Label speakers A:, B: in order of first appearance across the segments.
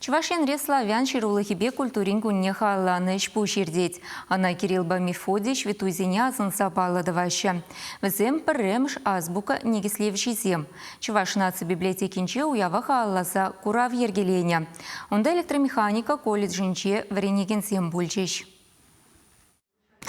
A: Чӑваш Енре славян ҫырулӑхӗпе культурин кунне халалланӑ ӗҫ-пуҫ иртет. Ӑна Кириллпа Мефодий ҫветтуйсене асӑнса паллӑ тӑваҫҫӗ. Вӗсем пӗрремӗш азбука никӗслевҫисем. Чӑваш наци библиотекинче уява халалласа курав йӗркеленӗ. Унта электромеханика колледжӗнче вӗренекенсем пулчӗҫ.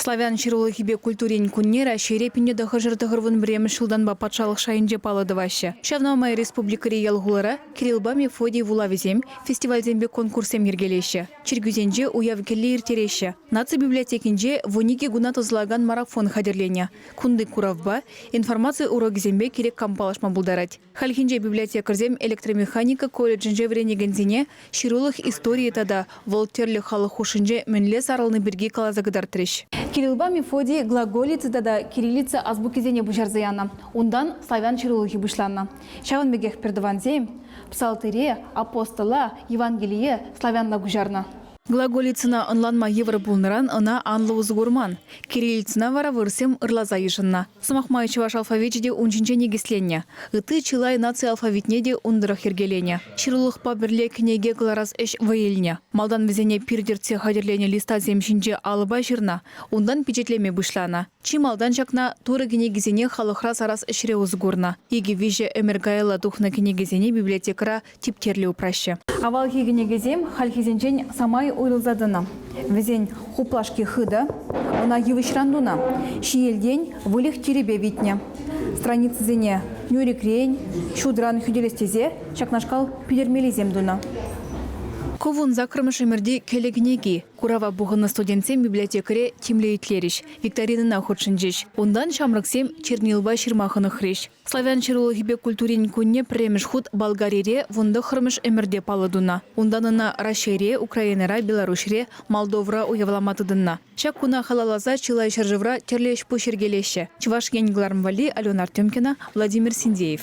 B: Славян ҫырулӑхӗпе культурин кунне Раҫҫейре пинне тӑхӑршар-тӑхӑрвун пӗрремӗш ҫултанпа патшалӑх шайӗнче паллӑ тӑваҫҫӗ. Ҫавна май республикӑри ял-хулара Кирилпа Мефодий вулавӗсем, фестивальсемпе конкурссем йӗркелеҫҫӗ, чиркӳсенче уяв кӗлли ирттереҫҫӗ. Наци библиотекинче вун икӗ куна тӑсӑлакан марафон хатӗрленӗ. Кунти куравпа, информаци урокӗсемпе кирек кам паллашма пултарать. Хальхинче библиотекарьсем электромеханика колледжӗнче вӗренекенсене ҫырулӑх историйӗ тата вӑл тӗрлӗ халӑх хушшинче мӗнле сарӑлни пирки каласа кӑтартрӗҫ. Кириллпа Мефодий глаголица тата кириллица азбукисене пуҫарса янӑ, унтан славян ҫырулӑхӗ пуҫланнӑ. Ҫавӑн пекех пӗртӑвансем Псалтире, Апостола, Евангелие славянла куҫарнӑ. Глаголицӑна ӑнланма йывӑр пулнӑран ӑна анлӑ усӑ курман. Кириллицӑна вара вырӑссем ырласа йышӑннӑ. Сӑмах май, чӑваш алфавичӗ те ун ҫинче никӗсленнӗ. Ытти чылай наци алфавитне те ун тӑрӑх йӗркеленӗ. Ҫырулӑхпа пӗрле кӗнеке кӑларас ӗҫ вӑй илнӗ. Малтан вӗсене пир тӗртсе хатӗрленӗ листасем ҫинче алӑпа ҫырнӑ, унтан пичетлеме пуҫланӑ. Чи малтан ҫакна Турӑ кӗнекисене халӑхра сарас ӗҫре усӑ курнӑ. Икӗ-виҫӗ ӗмӗр каялла тухнӑ кӗнекесене библиотекӑра типтерлӗ упраҫҫӗ. Авалхи кӗнекесем хальхисенчен самай уйрӑлса тӑнӑ. Вӗсен хуплашки хытӑ, ӑна йывӑҫран тунӑ, ҫиелтен выльӑх-чӗрепе витнӗ. Страницӑсене нӳрӗкрен, ҫутран хӳтӗлес тесе ҫакнашкал питӗрмеллисем тунӑ. Ку вун саккӑрмӗш ӗмӗрти кӗлӗ кӗнеки. Курава пухӑннӑ студентсем библиотекаре тимлӗ итлерӗҫ, викторинӑна хутшӑнчӗҫ. Унтан ҫамрӑксем Чернилова ҫырма хӑнӑхрӗҫ. Славян ҫырулӑхӗпе культурин кунне пӗрремӗш хут Болгарире вун тӑххӑрмӗш ӗмӗрте паллӑ тунӑ. Унтан ӑна Раҫҫейре, Украинӑра, Беларуҫре, Молдовӑра уявлама тытӑннӑ. Ҫак куна халалласа чылай ҫӗршывра тӗрлӗ ӗҫ-пуҫ йӗркелеҫҫӗ. Чӑваш Ен кӑларӑм валли Алена Артемкина, Владимир Синдеев.